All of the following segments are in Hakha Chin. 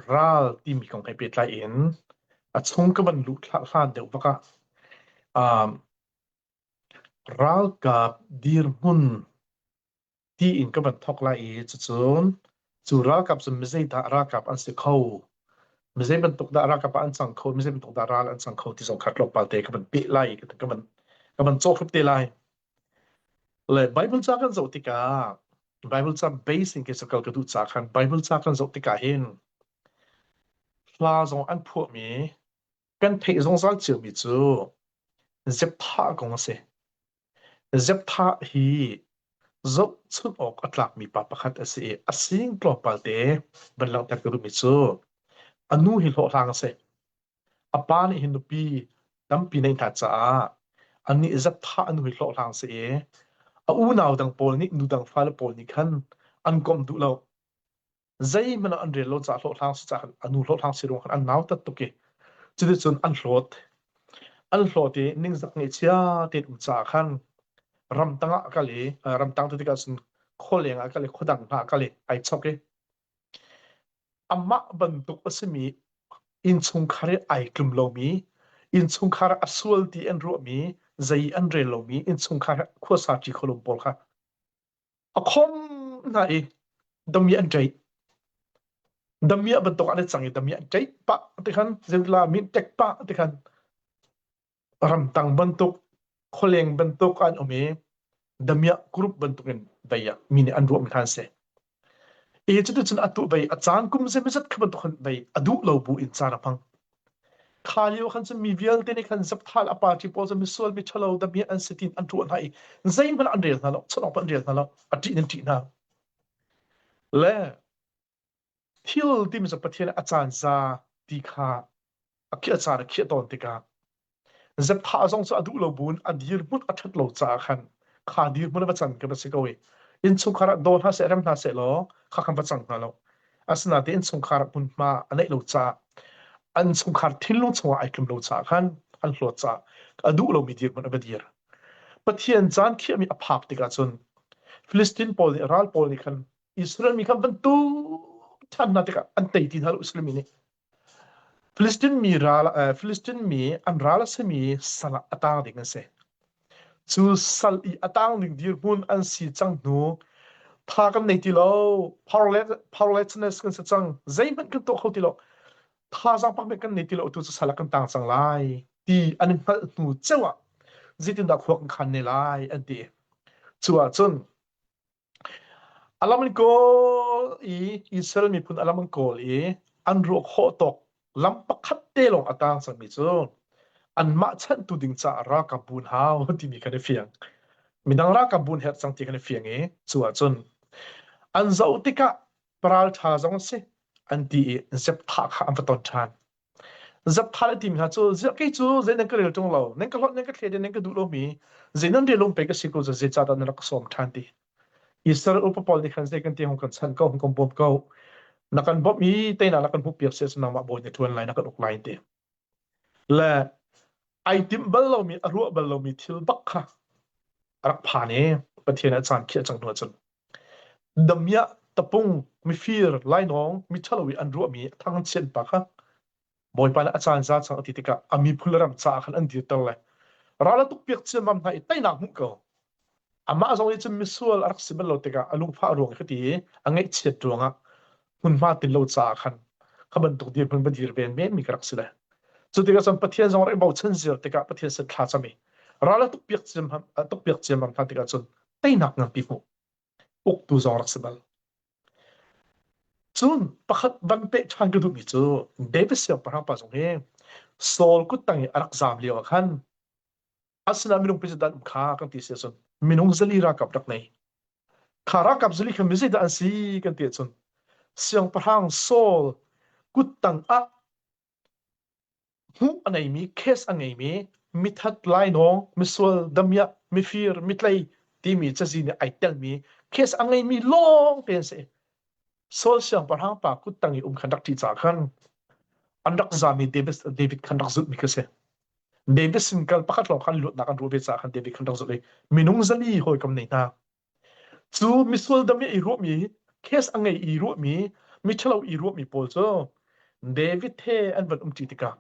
ral timi kong he pehtlai in a chung ka van luh hlan deuh bak ah ralkap dirhmun tiin ka van thawk lai i cucun cu ralkap cu mizeidah ralkap an si kho mizei bantuk dah ralkap an cang kho mizei bantuk dah ral an cang kho ti zong kha tlawmpal te ka van peh lai ka van ka van cawkhrep te lai Le Bible ca kan zoh tikah Bible ca base in kei sakal ka duh ca khan Bible ca kan zoh tikah hin hla zong an phuahmi kan theih zungzal ciomi cu Zeptha kong a si. Zeptha hi zohchunh awk a tlakmi pa pakhat a si i a sing tlawmpalte van langhter ka duhmi cu a nu hi hlawhhlang a si. a pa nih hin nupi tampi nei hna caah annih zaptha an hui hlawhhlang si i a unau dang pawl nih nu dang fale pawl nih khan an komh duh lo zeihmanh an rel lo caah hlawhhlang si caah a nu hlawhhlang si ruang khan an nautat tuk i cuticun an hlawt an hlawt i ningzak ngeihchia tein um caah khan ramtang ah a kal i ramtang tu tikah cun khualeng ah a kal i khuadang hna a kal i ai chok i Amah bantuk a simi innchungkhar i ai tlum lomi, innchungkhar a sual ti an ruahmi, zei an rel lomi innchungkhar khuasaṭi khualum pawl kha a khawm hna i dami an ṭeih. Dami ah bantuk an i cang i dami an ṭeih pah tikhan, zeitila min ṭek pah tikhan ramtang bantuk khualeng bantuk an um i damiah group bantuk in dei ah mi nih an ruah mi kha an si i cuticun atu bei a caan kum zeimazat kha bantuk khan bei a duh lo bu in caan a hmang kha lio khan cun mi vialte nih khan zapthal a party pawl cu misual mi thalo damiah an si tin an ruah hna i zeihmanh an rel hna lo chanok an rel hna lo a ṭih in ṭih hna le Thil timi cu Pathian a caan za ti kha a khiah caan a khiah tawn tikah zepthah zong cu a duh lo buin a dirhmun a ṭhat lo caah khan kha dirhmun a va can kan va si ko i innchungkhar ah daw hna seh rem hna seh law kha khan va cang hna lo asinain innchungkhar hmunhma a neih lo caah an chungkhar thinlung chungah ai tlum lo caah khan an hlawt caah a duh lomi dirhmun a va dir Pathian caan khiahmi a phak tikah cun Filistin pawl nih ral pawl nih khan Israel mi kha bantuk ṭhannak tikah an tei ti hna lo Israel mi nih. Filistin mi ral Filistin mi an ral a simi sal ah a tang ding an si. Cu sal i a tang ding dirhmun an si cang hnu tha kan nei ti lo powerlessness kan si cang zeihmanh kan tuah kho ti lo thazang pak kan nei ti lo tu cu sal kan tang cang lai ti an hngalh hnu ceu ah zeitindah khua kan khan ne lai an ti cu ah cun A lam an kawl i Israel miphun a lam an kawl i an ruah khawh tawk lam pakhat te lawng a tang cangmi cu anmah chanhtu ding caah ralkap buun hau timi kan i fiang. Midang ralkap buun herh cang ti kan i fiang i cu ahcun an zoh tikah paraltha zong a si an ti i zep thah kha an va ton ṭhan. Zapthal timi hna cu ziah kei cu zei nan ka rel ṭung lo, nan ka hlawt, nan ka thlede, nan ka duh lomi zei nan rel um pei ka si ko cu zeicah dah na rak ka sawm ṭhan ti. Israel upa pawl nih khan zei kan ti hong kan chanh ko, hong kan bawm ko. Na kan bawmh i teinak na kan hmuhpiak si asing nangmah bawi na ṭuan lai, na kan uk lai ti. Le ai timh bal lomi, a ruah bal lomi thil bak kha a rak phan i Pathian a caan khiah cang hnu ahcun Damiah tapung mifir lainawng miṭhalo i an ruahmi a thangchiat pa kha Bawipa nih a caan za chang a ti tikah a miphun le ram caah khan an dirter lai. Ral a tukpiak ciammam hna i teinak hmuh ko. Amah zong nih cun misual a rak si bal lo tikah a lungfah ruang i hiti i a ngaihchiat ruangah hmunhma tin lo caah khan kha bantuk dirhmun va dir ven men mi ka rak si le cu tikah cun pathian zong rak i bochan ziar tikah pathian sin thla cam i ral a tukpiak ciam tukpiak ciam hna tikah cun teinak nganpi hmuh uktu zong rak si bal cun pakhat van pe ṭhan ka duhmi cu David siangpahrang pa zong hi Saul kut tang i a rak zam lio ah khan asinain minung pizit dan kha kan ti si cun minung zali ralkap rak nei kha ralkap zali kha mizit an si kan ti cun siangpahrang Saul kuttang ah hmuh a neimi case a ngeimi mithat lainawng misual damya mifir mitlei timi cazi nih ai telmi case a ngeimi lawng te an si Saul siangpahrang pa kuttang i um khan rak ṭi ca khan an rak zami David khan rak zulhmi kha si Medicine kal pakhat lawng kan luatnak an ruah ve caah khan David khan rak zulh i minung zali hawikom nei hna. Cu misual dam i i ruahmi, case a ngei i ruahmi, miṭhalo i ruahmi pawl cu David he an van umṭi tikah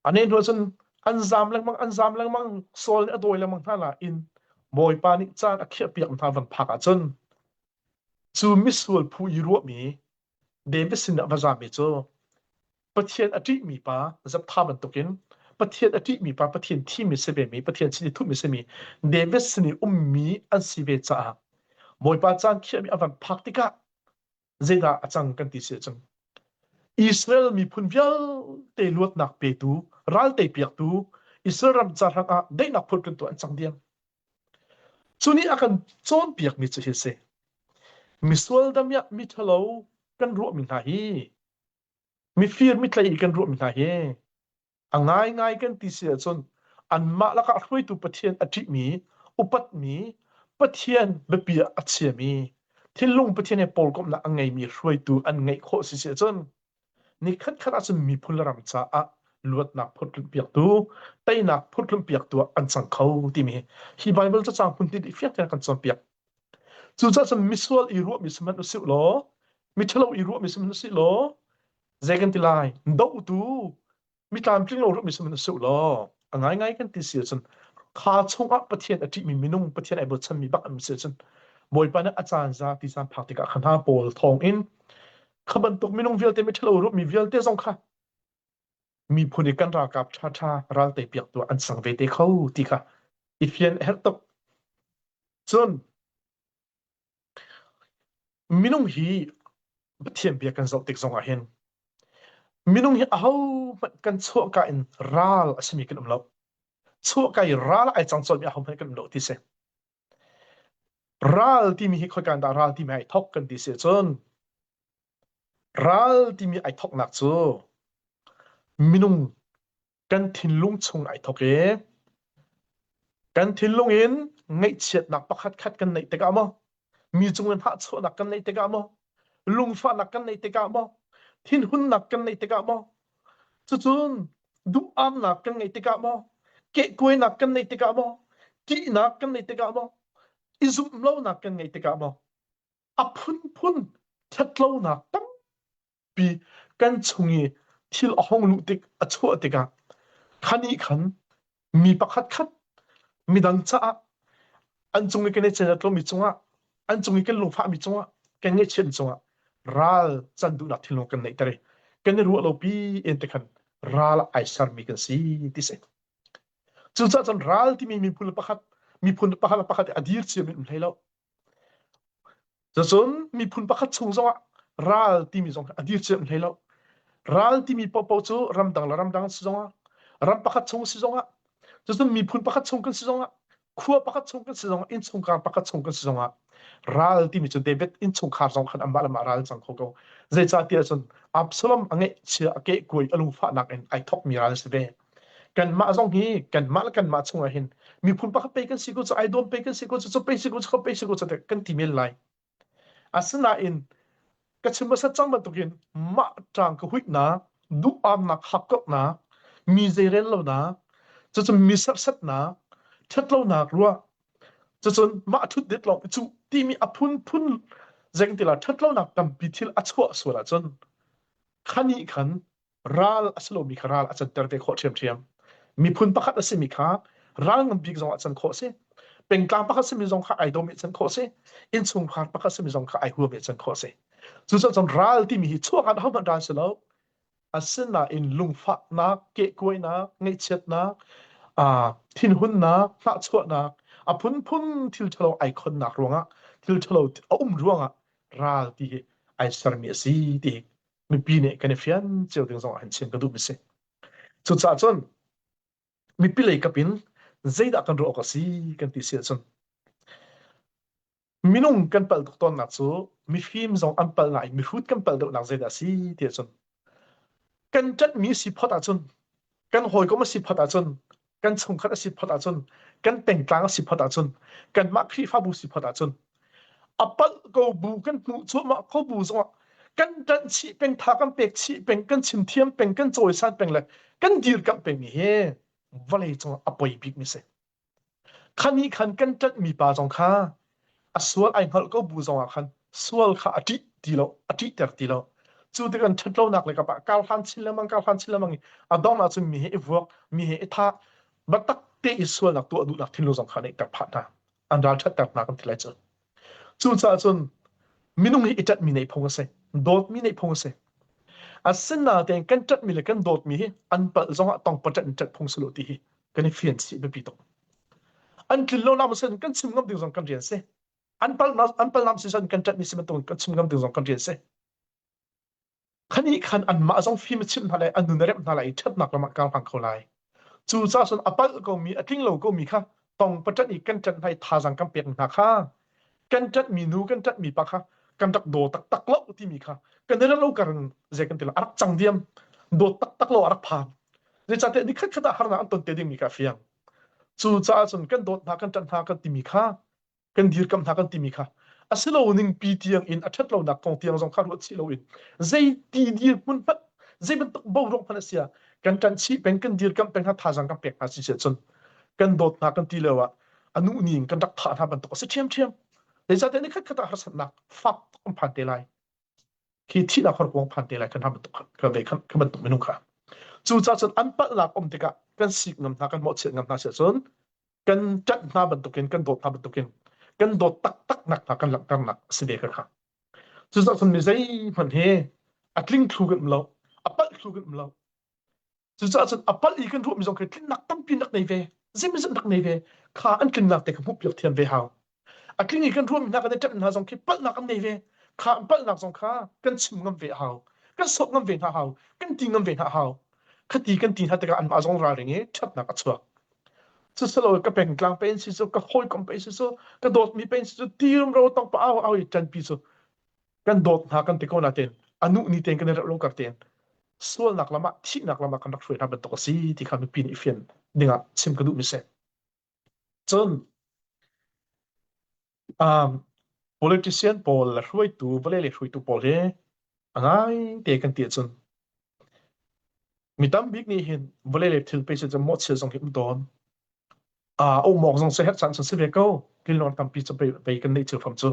a ne hnu cun an zam lengmang, an zam lengmang, Saul nih a dawi lengmang hna nain Bawipa nih caan a khiahpiak hna van phak ahcun Cu misual phu i ruahmi David sinah va zaami cu Pathian a ṭihmi pa zaptha bantukin Pathian a ṭihmi pa Pathian thimi si vemi Pathian sin i thuhmi simi David sin i ummi an si ve caah Bawipa caan khiahmi a van phak tikah zeidah a cang kan ti si cang. Israel miphun vialte luatnak petu, ralte piaktu, Israel ram ca hrangah daihnak phun kan tuah an cang diam. Cu nih a kan cawnpiakmi cu hi a si. Misual damiah miṭhalo kan ruahmi hna hi, mifir mitlei i kan ruahmi hna hi, a ngaingai kan ti si ahcun anmah lakah hruaitu Pathian a ṭihmi, upatmi, Pathian biapi ah a chiami, thinlung Pathian he pawlkomhnak a ngeimi hruaitu an ngeih khawh si si ahcun, Nikhatkhat ahcun miphun le ram caah luatnak phurtlunpiaktu, teinak phurtlunpiaktu ah an cang kho timi hi Baibal cacang hmuntin i fiang tein kan cawnpiak. Cucaah cun misual i ruahmi si hmanh usih law, miṭhalo i ruahmi si hmanh usih law, zei kan ti lai? Dohtu, mi tlamtling lo rupmi sihmanhsehlaw si law a ngaingai kan ti si ahcun kha chungah Pathian a ṭihmi minung Pathian ai bochanmi bak an si ahcun Bawipa nih a caan za ti caan phak tikah kha hna pawl thawng in kha bantuk minung vialte miṭhalo rupmi vialte zong kha miphun i kan ralkap ṭhaṭha ralte piak tu an sang ve te kho ti kha i fian a herh tuk. Cun Minung hi Pathian bia kan zoh tik zongah hin minung hi ahohmanh kan chuahka in ral a simi kan um lo. Chuahka i ral ah ai cang colmi ahohmanh kan um lo ti si. Ral timi hi khoika dah ral timi ai thawk kan ti si ahcun ral timi ai thawknak cu minung kan thinlung chung ai thawk i kan thinlung in ngaihchiatnak pakhatkhat kan neih tikah maw mi cung in hahchawhnak kan neih tikah maw lungfahnak kan neih tikah maw thinhunnak kan neih tikah maw cucun duhamnak kan ngeih tikah maw kehkuainak kan neih tikah maw ṭihnak kan neih tikah maw i zumh lonak kan ngeih tikah maw a phunphun ṭhatlonak tam pi kan chung i thil a hong luh tik a chuah tikah kha nih khan mi pakhat khat midang caah an cung i kan i cenat lomi cungah an cung i kan lungfahmi cungah kan ngaihchiat cungah ral can duhnak thilnung kan neihter i kan i ruah lopi en te khan ral ah ai sermi kan si ti si cucaah cun ral timi miphun pakhat miphun pakhat le pakhat i a dir ciamin um hlei lo Cun miphun pakhat chung zongah ral timi zong a dir cem hlei lo. Ral timi pohpoh cu ramdang le ramdang si zongah, ram pakhat chung si zongah, cucun miphun pakhat chung kan si zongah, khua pakhat chung kan si zongah, innchungkhar pakhat chung kan si zongah, ral timi cu David innchungkhar zong khan amah le amah ral cang kho ko. Zeicahtiah cun Absalom a ngeihchia a kehkuai a lungfahnak in ai thokmi ral a si ve. Kanmah zong hi kanmah le kanmah chungah hin miphun pakhat pei kan si ko cu ai dawm pei kan si ko cu cu pei si ko cu pei si ko cu kan ti men lai asinain ka chim hmasat cang bantukin mah tang ka huitnak duhpamnak hakkoknak mi zeirel lonak cucu mi sersatnak ṭhatlonak ruah cucun mah ṭhutdet lawng cu timi a phunphun zengtila ṭhatlonak tampi thil a chuah sual ahcun khanih khan ral a si lomi kha ral a canter te khawh ṭhiamṭhiam. Miphun pakhat a simi kha ral ngan bik zongah can khawh a si. Pengtlang pakhat simi zong kha ai dawm i can khawh a si. Innchungkhar pakhat simi zong kha ai huam i can khawh a si. Cucaah cun ral timi hi chuahkhat ahohmanh ral si lo. Asinain lungfahnak, kehkuainak, ngaihchiatnak, thinhunnak, hnahchuahnak, a phunphun thil ṭhalo ai khonnak ruangah, thil ṭhalo a um ruangah ral ti hi ai sermi a si ti mipi nih kan i fian cio ding zong ah hin chim ka duh mi si. Cucaah cun mipi lei kap in zeidah kan ruah awk a si kan ti si ahcun minung kan palh tuk tawnnak cu mifim zong an palh ngai mihrut kan palh deuhnak zeidah a si ti ahcun kan ṭanhmi si phot ahcun kan hawikom a si phot ahcun kan chungkhat a si phot ahcun kan pengtlang a si phot ahcun kanmah khrihfabu si phot ahcun a palh ko bu kan hmuh cuahmah ko bu zongah kan ṭanh chih peng tha kan pek chih peng kan chim thiam peng kan cawisan peng le kan dirkamh pengmi hi vawlei cungah a poi bikmi si khan nih khan kan ṭanhmi pa zong kha a sual ai hngalh ko bu zong ah khan sual kha a ṭih ti lo a ṭih ter ti lo cu tikhan ṭhatlonak le kapah kar hlan chin lemang kar hlan chin lemang i a dong ah cun mi he i vuak mi he i tha batak te i sualnak tuah duhnak thinlo zong kha nei ter pha hna an ral ṭhat ter hna kan ti lai cu cu caah cun minung hi i tat mi nei phung a si dawt mi nei phung a si a sin na ten kan tat mi le kan dawt mi hi an pal zong ah tong patat in tat phung silo ti hi kan i fian chih biapi tuk an tlin lo nak sin kan chim ngam ding zong kan rian si an pal an pal nam si san kan tat ni si bantuk kan chim ngam ding zong kan rian si khani khan an mah zong fim chim hna lai an nun rep hna lai that nak lamah kang phang kho lai cu cha sun apal ko mi atling lo ko mi kha tong patat i kan tat hai tha jang kan pek hna kha kan ṭatmi nu kan ṭatmi pa kha kan rak daw taktak lo timi kha kan i ro kar in zei kan ti lo a rak cang diam dawt taktak lo a rak phang zeicahtiah ni khat khat ah harnak an ton te dingmi kha a fiang cucaah cun kan dawt hna kan ṭat hna kan timi kha kan dirkamh hna kan timi kha a si lo ning pi tiang in a ṭhat lonak kong tiang zong kha ruat chih loin zeiti dirhmun hmanh zei bantuk boruak hmanh a sia kan ṭan chih peng kan dirkamh peng hna thazang kan pek hna si cun kan dawt hna kan ti lio ah a nu nih in kan rak thah hna bantuk a si ṭhiamṭhiam zeicahtiah ni khatkhat ah harsatnak fak kan phan te lai khi thihnak horkuang phan te lai kan hna bantuk ka ve ka bantuk minung kha cucaah cun an palhnak um tikah kan sik ngam hna kan mawhchiat ngam hna siah cun kan ṭanh hna bantukin kan dawt hna bantukin kan dawt taktaknak hna kan langhternak a si ve ka kha cucaah cun mi zeihmanh hi a tling thlu kan um lo a palh thlu kan um lo Cucaah cun a palh i kan ruahmi zong khi tlinnak tampi rak nei ve, zeimawzat rak nei ve, kha an tlingnak te kha hmuhpiak thiam ve hau. A tling i kan ruahmi hna kan i ṭemh hna zong khi palhnak an nei ve, kha an palhnak zong kha kan chim ngam ve hau, kan sawp ngam ve hna hau, kan ti ngam ve hna hau. Khati kan ti hna tikah anmah zong ralring i ṭhatnak a chuak. Cusiloah ka pengtlang pei an si cu, ka hawikom pei si cu, ka dawtmi pei an si cu, tirum ro tong pa au au i ṭanpi cu kan dawt hna kan ti ko natein a nu ni tein kan i rauh lo kar tein sualnak lam ah thihnak lam ah kan rak hruai hna bantuk a si ti kha mipi nih fian dingah chim ka duh mi si cun um, politician pawl le hruaitu vale le hruaitu pawl hi a ngai te kan ti ahcun Mi tam bik nih hin vawlei le thil pe si cun mawhchia zong hi um tawn. A umawk zong si herh caan san si ve ko. Linlong tampi cu pei kan neih thil fam cu.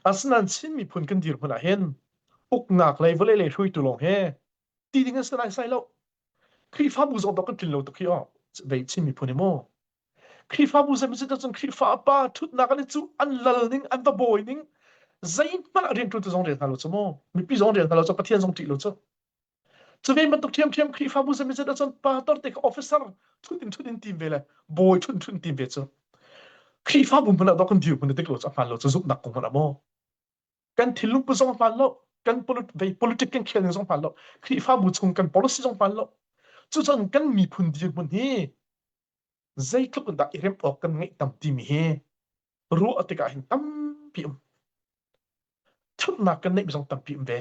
Asinain Chin miphun kan dir hmun ah hin uknak lei vawlei le hrui tu lawng he ti ding an si lai sai lo. Khrihfabu zong tok kan tlin lo tuk hi o. Vei Chin miphun hi mu. Khrihfabu zeimi cu cun Khrihfa a pa thutnak an i cuh, an lal ning, an va bawi ning, zeihmanh rianṭuantu zong rel hna lo cu mu, mipi zong rel hna lo cu, Pathian zong ṭih lo cu. Cu ve bantuk ṭhiamṭhiam Khrihfabu zeimi cu cun pa torte kha officer thut in thut in tim ve le bawi thut in thut in tim ve cu. Khrihfabu hmun ah dok kan dir hmun dik lo cu a hmaan lo cu zumhnak kong hmanh a maw. Kan thillung pu zong hmaan lo, kan politik kan khel ning zong hmaan lo, Khrihfabu chung kan policy zong hmaan lo. Cucun kan miphun dirhmun hi zeitluk in dah i remh awk kan ngeih tam timi hi ruah tikah hin tampi um ṭhatnak kan neih zong tampi um ve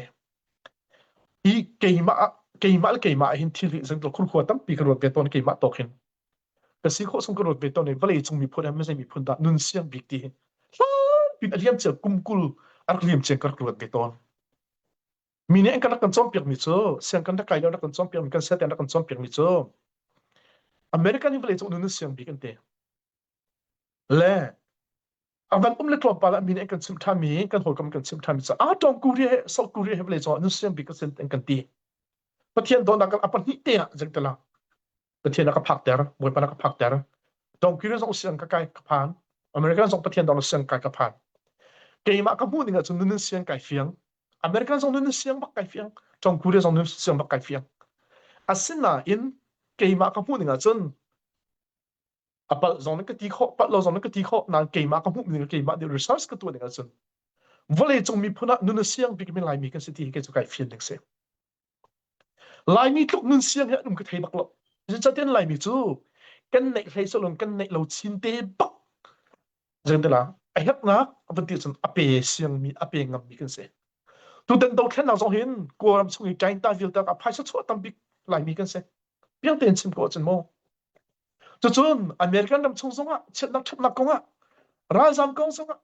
i keimah ah keimah le keimah hin thilri zangdol khurkhua tampi kan ruat ve tawn keimah tok hin ka si khawh sung kan ruat ve tawn i vawlei cung miphun he mizei miphun dah nun siang bik ti hi hlan pin a liam cia kumkul a rak liam cia ka rak ruat ve tawn mi nih an kan rak kan cawnpiakmi cu siang kan rak kai lio rak kan cawnpiakmi kan siate rak kan cawnpiakmi cu American hi vawlei cung nun siang bik an ti le a van um le tlawmpal ah mi nih an kan chimh ṭhanmi kan hawikom kan chimh ṭhanmi caah tawng Korea he South Korea he vawlei cung nun siang bik an siang an kan ti Pathian dawtnak kan a pahnih te ah zengtala Pathian a ka phakter, Bawipa na ka phakter. Dongkiri zong siang ka kai ka phan. American zong Pathian dong siang kai ka phan. Keimah ka hmuh ning ahcun nun siang kai fiang. American zong nun siang bak kai fiang. Tom Cruise zong nun siang bak kai fiang. Asinain keimah ka hmuh ning ahcun a palh zong nan ka ti khawh, palh lo zong nan ka ti khawh. Nain keimah ka hmuh ning keimah nih research ka tuah ning ahcun vawleicung miphun ah nun a siang bikmi Laimi kan si ti hi kei cu kai fian ding si. Laimi tluk nun siang hi an um ka thei bak lo. Zeicatiah Laimi cu kan neih hlei sawlong kan neih lo chin te bak zeng te la a herhnak a van ti cun a pe siangmi a pe ngammi kan si. Tutan dothlennak zong hin Kawlram chung i Ṭainta vialtak a phaisa chuah tambik Laimi kan si. Piang tein chim ko cun mu. Cucun American ram chung zongah chiatnak ṭhatnak kongah ralzam kong zongah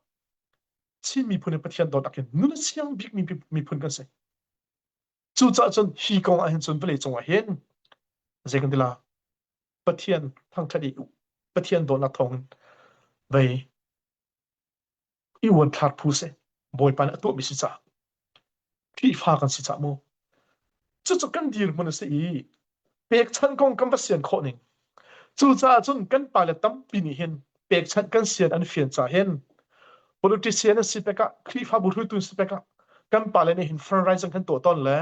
Chin miphun in Pathian dawt akin nun a siang bikmi miphun kan si. Cucaah cun hi kong ah hin cun vawlei cungah hin zei kan ti la Pathian thangṭhat i Pathian dawtnak thawngin vei i uanthlak phu si Bawipa nih a tuahmi si caah Khrihfa kan si caah maw cucu kan dirhmun a si i pekchanh kong kan va sian khawh ning. Cucaah cun kan pale tampi nih hin pekchanh kan sian an fian ca hin politician an si pekah Khrihfabu hruitu si pekah kan pale nih hin fundraising kan tuah tawn le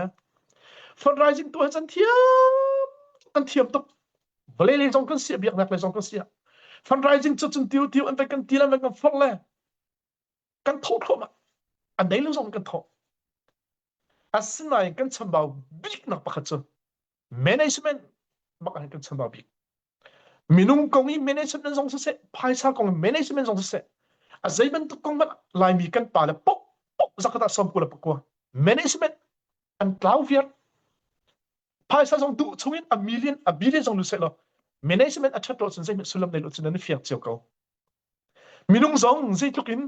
fundraising tuah can thiam an thiam tuk vale le zong kan sia biaknak le zong kan sia fundraising cu cun tiu tiu an van kan ti le an van kan forh le kan thawh thluahmah a nei lo zong kan thawh asinain kan chambau biknak pakhat cu management mak ah kan chambau bik minung kong i management zong siseh phaisa kong i management zong siseh a zei bantuk kong hmanh laimi kan pa le pok pok zakata somku le pakua management an tlau viar phaisa zong duh chungin a million a billion zong lu se lo management a that lo cun zeihmanh sullam nei lo cun nan fiak cio ko Minung zong zeitluk in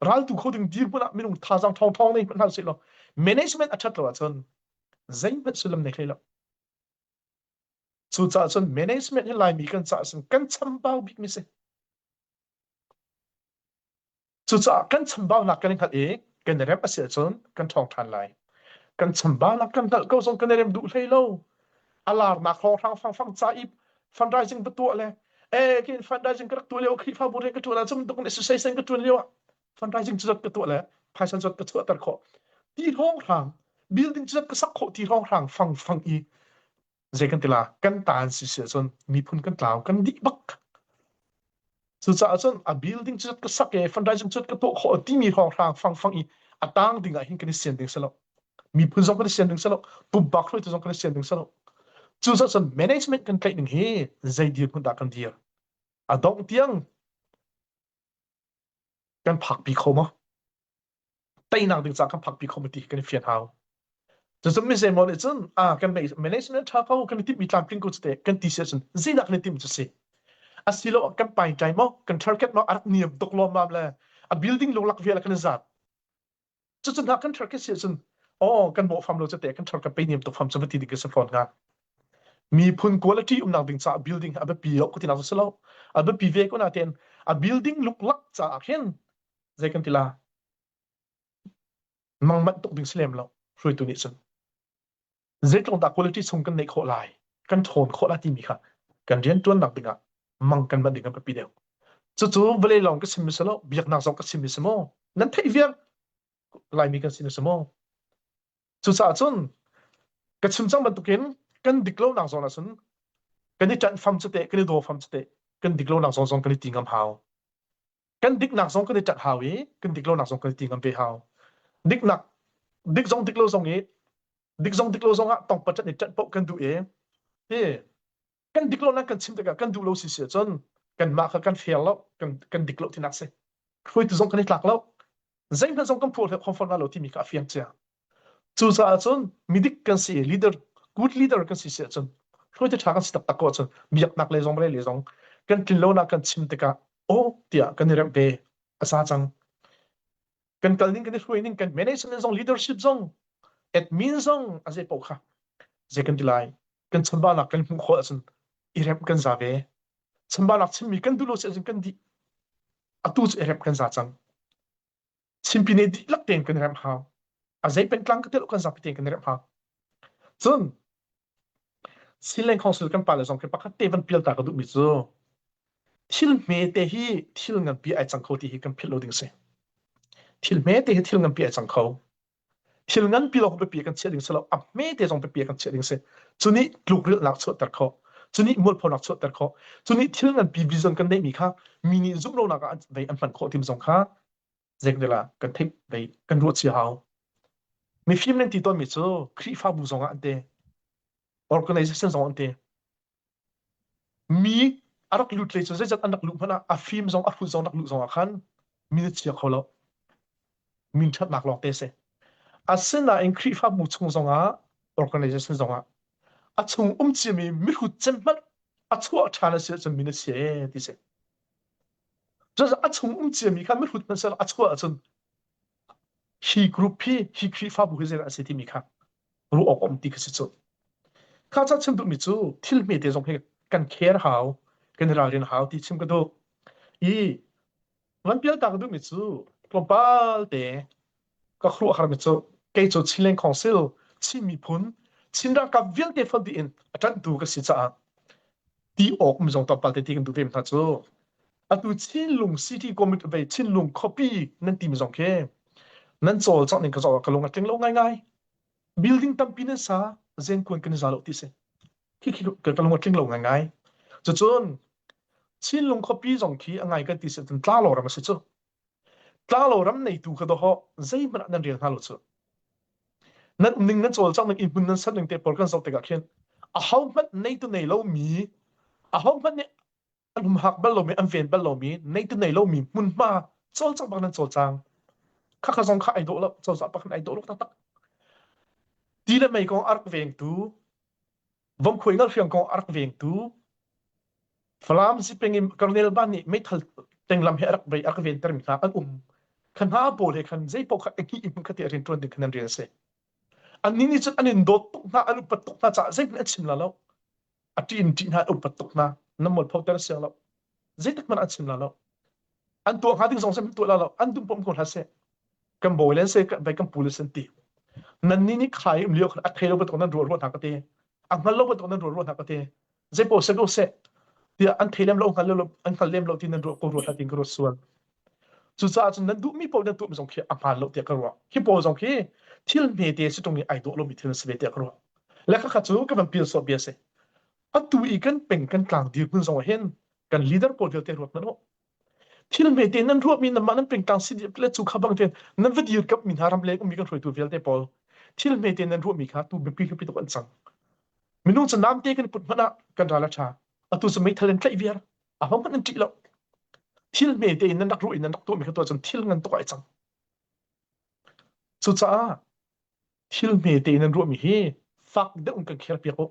raltu kho ding dirhmun ah minung thazaang ṭhawngṭhawng nei hmanh hlah sehlaw management a ṭhat lo ahcun zeihmanh sullam nei hlei lo. Cucaah cun management hi Laimi kan caah cun kan chambau bikmi si. Cucaah kan chambaunak kan i hngalh i kan i remh a si ahcun kan ṭhawng ṭhan lai. Kan chambaunak kan hngalh ko zong kan i remh duh hlei lo. a laarnak hlawhrang hranghrang ca i fundraising va tuah le e kin fundraising ka rak tuah lio khrifa bu rian ka tuan ahcun tuk ne susai sen ka tuan lio ah fundraising cu zat ka tuah le phaisa zat ka chuahter khawh ti hlawnghrang building cu zat ka sak khawh ti hlawnghrang fang fang i zei kan tila kan taan si si ahcun miphun kan tlau kan dih bak Cucaah cun a building cu ka sak i fundraising cu ka tuah khawh timi hrawnghrang fangfang i a tang ding ah hin kan i sian ding silo. Miphun zong kan i sian ding silo. Pumpak hruaitu zong kan i sian ding silo. Cucaah cun management kan tlaih ning hi zei dirhmun dah kan dir? A dongh tiang kan phakpi kho maw? teinak ding caan kan phakpi khawh ti kan i fian hau. Cucu mi zei maw nih cun ah kan management ṭha ko kan i timhmi tlamtling ko cu te kan ti si ahcun zeidah kan i timh cu si asilo kan pai tlai maw kan target maw a rak niam tuk lawmmam le a building lunglak vial kan i zat cucu hna kan target si ahcun o kan mawh fam lo cu te kan target pei niam tuk fam cu va ti ding kan si fawn hnga miphun quality umnak ding caah building a biapi lo kutinak cu si lo a biapi ve ko na ten a building luklak caah hin zei kan ti la mang manh tuk ding si lem lo hruaitu nih cun zeitlongdah quality chung kan neih khawh lai kan ṭhawn khawh lai timi kha kan rianṭuannak dingah mang kan manh ding an ka pi deuh cucu vale lawng ka sim mi si lo biaknak zong ka sim mi si maw nan theih viang laimi kan sim mi si maw cucaah cun ka chim cang bantukin kan dik lonak zawn ah cun kan i ṭanh fam cu teh kan i daw fam cu teh kan dik lonak zawn zong kan i ti ngam hau kan diknak zong kan i ṭanh hau i kan dik lonak zong kan i ti ngam ve hau. Diknak dik zong dik lo zong i dik zong dik lo zong ah tongpat ṭan i ṭanh paoh kan duh i ti kan dik lo nan kan chim tikah kan duh lo si si ahcun kanmah kha kan fair lo kan kan dik lo tinak si hruaitu zong kan i tlak lo zeihmanh zong kan phuah khawmforna lo timi kha a fiang cia Cucaah cun midik kan si leader, good leader kan si si ahcun hruaite ṭha kan si taktak ko ahcun biaknak le zong male le zong kan tlinlonak kan chim tikah aw tiah kan i remh ve a sa cang. Kan kal ning kan i hruai ning kan management zong leadership zong admin zong a zei paoh kha zei kan ti lai kan chanbahnak kan hmuh khawh ahcun i remh kan za ve chanbahnak chimmi kan duh lo si ahcun kan dih atu cu i remh kan za cang chimpi ne dihlak tein kan remh hau a zei pengtlang ka tilo kan zapi tein kan remh hau cun Sinleng Council kan pa le zong khi pakhat te van pial ta ka duhmi cu thil hme te hi thil nganpi ai cang kho ti hi kan philh lo ding si thil hme te hi thil nganpi ai cang kho thil nganpi lawng pipi kan chiah ding si lo a hmete zong pipi kan chiah ding si cu nih tlukrilhnak chuahter khawh cu nih mualphonak chuahter khawh cu nih thil nganpi vision kan neihmi kha mi nih zumhlonak ah vei an hman khawh tim zong kha zeikdel ah kan theih vei kan ruah cia hau mifim nan ti tawnmi cu khrihfabu zong ah an te organization zong an te Mi a rak lut hlei cu zeizat an rak luh hmanh ah a fim zong a hrut zong rak luh zong ah khan min a chia kho lo. Min thatnak lawng te si. Asinain Khrihfabu chung zongah organization zongah a chung um ciami mihrut cem hmanh a chuah ṭhan a si ahcun min a chia ti si. Cucaah a chung um ciami kha mihrut hmanh a chuah ahcun hi group hi hi Khrihfabu hi zeidah a si timi kha ruah awk a um ti kha si cu. Kha ca chim duhmi cu thil hmete zong hi kan care hau, kan i ralrin hau ti chim ka duh. I van pial ta ka duhmi cu tlawmpal te ka khuruah harmi cu kei cu Chinland Council Chin miphun Chin ralkap vialte fak in a ṭanh tu ka si caah ti awk mi zong tlawmpal te ti kan duh ve hna cu atu Chinlung City Committee ve Chinlung khuapi nan ti mi zong khi nan cawl cang ning ka cawl ka lung a tling lo ngaingai building tampi nan sa zengkuan kan za lo ti si khi khi ka ka lung a tling lo ngaingai cucun Chinlung khuapi zong khi a ngai kan ti si tun tla lo ram a si cu Tlanglo ram neitu kha dawhawh zeihmanh ah nan rel hna lo cu. Nan ning nan cawl cang ning i hmun nan san ning te por kan zoh tikah khin ahohmanh nei tu nei lomi ahohmanh nih an humhak bal lomi an ven bal lomi nei tu nei lomi hmunhma cawl cang bak nan cawl cang khakha zong kha ai dawh lo cozah pakhat ai dawh lo taktak ti le mei kong a rak vengtu vomkhuai ngal hriang kong a rak vengtu Falam sipeng in Colonel Ban nih meithal tenglam he a rak bei a rak ventermi hna an um khan hna pawl he khan zeipaoh kha eki in khati a rian tuan ding khan an rian a si an ni nih cun an in dawt tuk hna an upat tuk hna caah zeihmanh a chim la lo a ṭi in ṭih hna an upat tuk hna nan mualpho ter siang lo zeitikhmanh an chim la lo an tuah hnga ding zong seh tuah la lo an dum pom ko hlah seh kan bawi len se kan kan pu le san ti nan ni ni khai um liu a thei lo bat nan rual rual hna ka te a ngal lo bat nan rual rual hna ka te ze ko se ko se tia an thei lem lo ngal lo an ngal lem lo ti nan rual ko rual hna ting ko sual cucaah cun nan duh mi pawl nan tuah mi zong khi a hmaan lo tiah ka ruah hi pawl zong khi thil hme te si tung i ai dawh lo mi thil si ve tiah ka ruah le ka kha cu ka van pil so bia se atu i kan peng kan tlang dirhmun zong hin kan leader pawl vialte ruat hmanh u thil hmete nan ruah mi nan mah nan pengtlang si diap le cu kha bang ten nan va dir kap mi hna ram le mi kan hruaitu vialte pawl thil hmete nan ruah mi kha tu bipi hlupi tuk an cang minung cu namte kan put hmanh ah kan ral a tha atu su mei thal in tlaih viar a hong an ti lo thil hmete in nan rak ruah in nan rak tuah mi kha tu cun thil ngan tuk ai cang cucaah thil hmete in an ruahmi hi fak deuh in kan khel piak u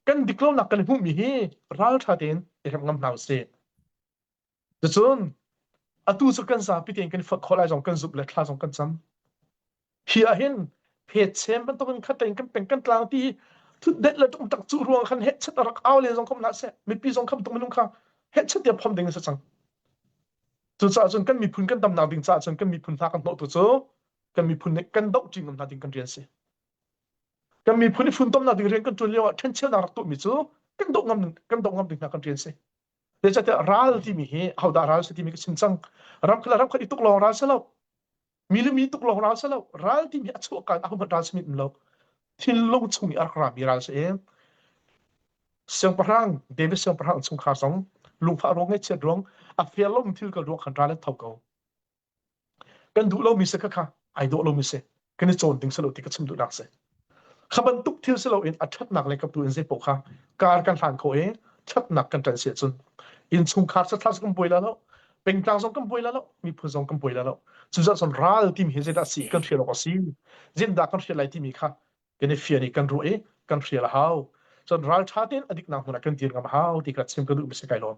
kan dik lonak kan i hmuhmi hi ralṭha tein i remh ngam hna usih Ticun atu cu kan zapi tein kan i fot khawh lai zong kan zumh le thla zong kan cam hi ahhin phetchem bantukin khatein kan peng kan tlang ti thutdet le tum tak cu ruang khan hetchet a rak aule zong kom na se mipi zong kham tuk minung kha hetchet tiap phom ding a si cang cucaah cun kan miphun kan damnak ding caah cun kan miphun hna kan hnawh tu cu kan miphun nih kan doh ṭi ngam hna ding kan rian si kan miphun i funtomnak ding rian kan ṭuan lio ah ṭhencheunak rak tuahmi cu kan doh ngam kan doh ngam ding hna kan rian si zeicahtiah ral timi hi hodah ral si timi ka chim cang ramkhat ramkhat i tuk lawng ral si lo mi le mi tuk lawng ral si lo ral timi a chuahkan a humat ral si mit lo thinlung chung i a rak rami ral si em siangpahrang david siangpahrang chungkhar zong lungfah ruang ngeih chiat ruang a fialom thil ka ruang khan ral an tho ko kan duh lomi si ka kha ai dawh lomi si kan i cawn ding si lo ti ka chim duhnak si kha bantuk thil si loin a ṭhatnak le kaptu in zei poh kha kar kan hlan kho i ṭhatnak kan ṭan si cun innchungkhar sathla kan buai la lo pengtlang zong kan buai la lo miphun zong kan buai la lo cucun son ral timi hi zeidah si kan hrial awk a si zindah kan hrial lai timi kha kan i fian i kan ruah i kan hrial a hau cun ral ṭha tein a diknak hmun ah kan dir ngam a hau ti ka chim ka duh mi si kai lawm